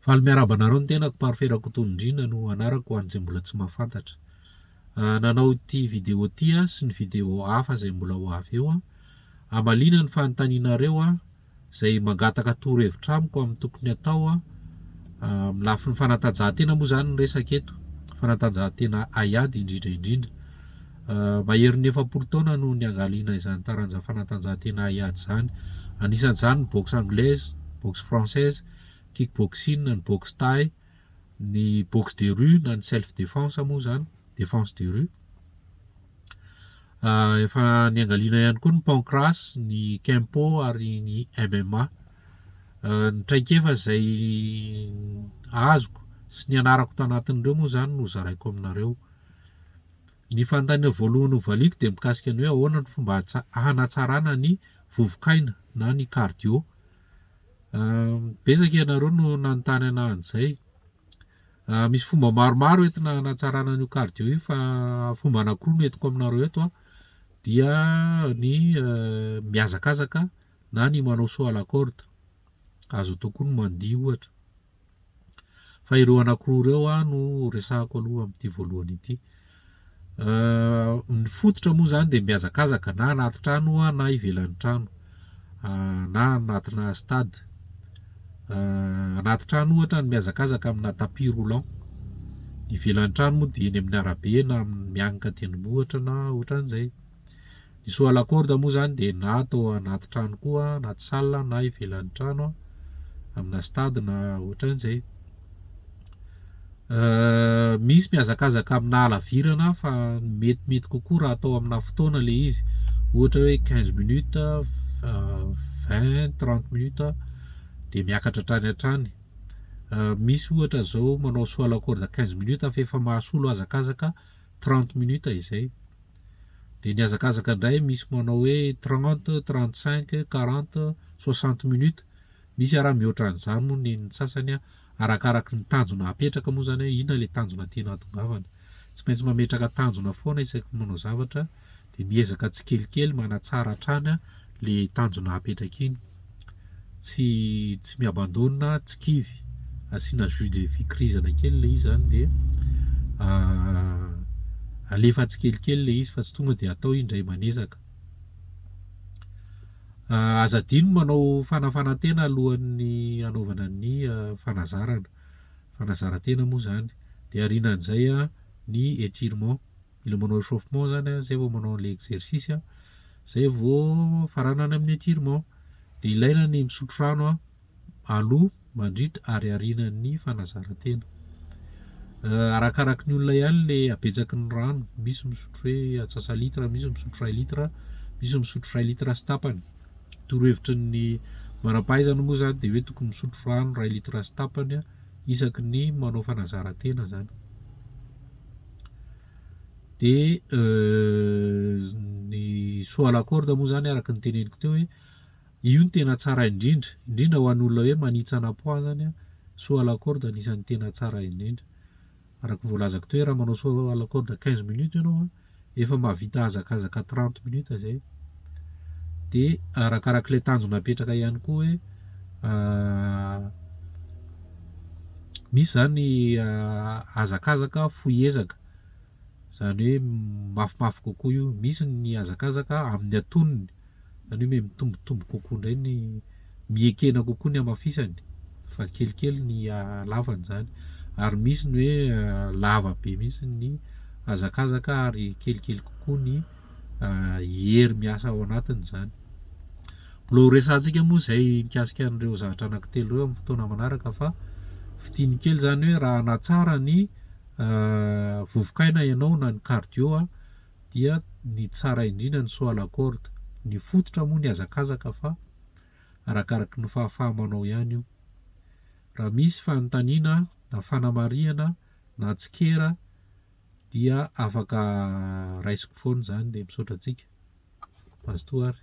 Faly miarahaba anareo ny tenako Parfait Rakotonindrina no anarako ho an'izay mbola tsy mahafantatra. Nanao ity vidéo ity aho sy ny vidéo hafa izay mbola ho avy eo aho. Hamaliana ny fanontanianareo aho izay mangataka torohevitra amiko amin'ny tokony hatao aho. Amin'ny lafiny fanatanjahantena moa izany ny resaka eto, fanatanjahantena haiady indrindra indrindra. Maherin'ny efapolo taona no niangaliana izany taranja fanatanjahantena hiady izany. Anisan'izany ny boxe anglaise, boxe française, kickboxing, ny boxe thaï, ny boxe de rue na ny self defense moa izany, defense de rue. Efa niangaliana ihany koa ny pancrace, ny kempo ary ny MMA. Ny traikefa izay azoko sy nianarako tanatin'ireo moa izany no zaraiko aminareo. Ny fanontaniana voalohany hovaliako dia mikasika ny hoe ahoana ny fomba hanatsarana ny vovok'aina na ny cardio. Betsaka ianareo no nanontany anah an'izay. Misy fomba maromaro entina hanatsarana an'io cardio io fa fomba anankiroa no entiko aminareo eto a, dia ny mihazakazaka na ny manao saut à la corde, azo atao koa ny mandihy ohatra. Fa ireo anankiroa ireo aho no resahako aloha amin'ity voalohany ity. Ny fototra moa izany dia mihazakazaka na anaty trano oa na ivelan'ny trano na anatinà stade. Anaty trano ohatra ny mihazakazaka aminà tapis roulant, ivelan'ny trano moa dia eny amin'ny arabe na mianika tendrombohitra na ohatran'izay. Ny saut à la corde moa izany dia na atao anaty trano koa, anaty salle na ivelan'ny trano, amina stade na ohatran'izay. Misy mihazakazaka amina halavirana fa ny metimety kokoa raha atao amina fotoana ilay izy, ohatra hoe quinze minutes, vingt, trente minutes dia miakatra hatrany hatrany. Misy ohatra izao manao saut à la corde quinze minutes fa efa mahasolo hazakazaka trente minutes izay. Dia nihazakazaka indray misy manao hoe trente, trente cinq, quarante, soixante minutes, misy ara mihoatra an'izany moa ny ny sasany an, arakaraky ny tanjona apetraka moa izany hoe inona ilay tanjona tiana hatongavana. Tsy maintsy mametraka tanjona foana isaky ny manao zavatra dia miezaka tsikelikely manatsara hatrany ilay tanjona apetraka iny. tsy tsy mi-abandona tsy kivy asiana jus de fikirizana kely le izy zany de alefa tsikelikely le izy fa tsy tonga de atao izy ndray manezaka aza adino ny manao fanafanantena alohan'ny anaovana ny fanazarana fanazarantena moa zany de aorianan'izay ny etirement mila manao échauffement zany a, zay vao manao le exercice a, zay vao mifaranana amin'ny étirement, de ilaina ny misotro rano a aloha, mandritra ary arinan'ny fanazaran-tena, arakaraky ny olona ihany le habetsaky ny rano, misy misotro hoe antsasa litre, misy misotro ray litre, misy misotro ray litre sy tapany, torohevitry ny manam-pahaizana moa zany de hoe tokony misotro rano ray litre sy tapany a. isaky ny manao fanazaran-tena zany de ny saut à la corde moa zany araka ny teneniko teo hoe io no tena tsara indrindra indrindra ho an'olona hoe manitsana poids zany a saut à la corde anisan'ny tena tsara indrindra. araka voalazako teo hoe raha manao saut à la corde quinze minutes ianao an, efa mahavita hazakazaka trente minutes zay. Dia arakarak'ilay tanjona apetraka ihany koa hoe misy zany hazakazaka fohy ezaka, zany hoe mafimafy kokoa io, misy ny hazakazaka amin'ny atonony. Izany hoe mitombotombo kokoa indray ny, miekena kokoa ny hamafisany fa kelikely ny halavany izany. Ary misy ny hoe lava be mihitsy ny hazakazaka ary kelikely kokoa ny hery miasa ao anatiny izany. Mbola ho resahantsika moa izay mikasika an'ireo zavatra anankitelo ireo amin'ny fotoana manaraka fa fidiny kely izany hoe raha hanatsara ny vovoka aina ianao na ny cardio dia ny tsara indrindra ny saut à la corde. Ny fototra moa ny hazakazaka fa arakaraky ny fahafaha-manao ihany io. Raha misy fanontaniana na fanamarihana na tsikera dia afaka raisiko foana izany dia misaotra antsika. Basta o ary.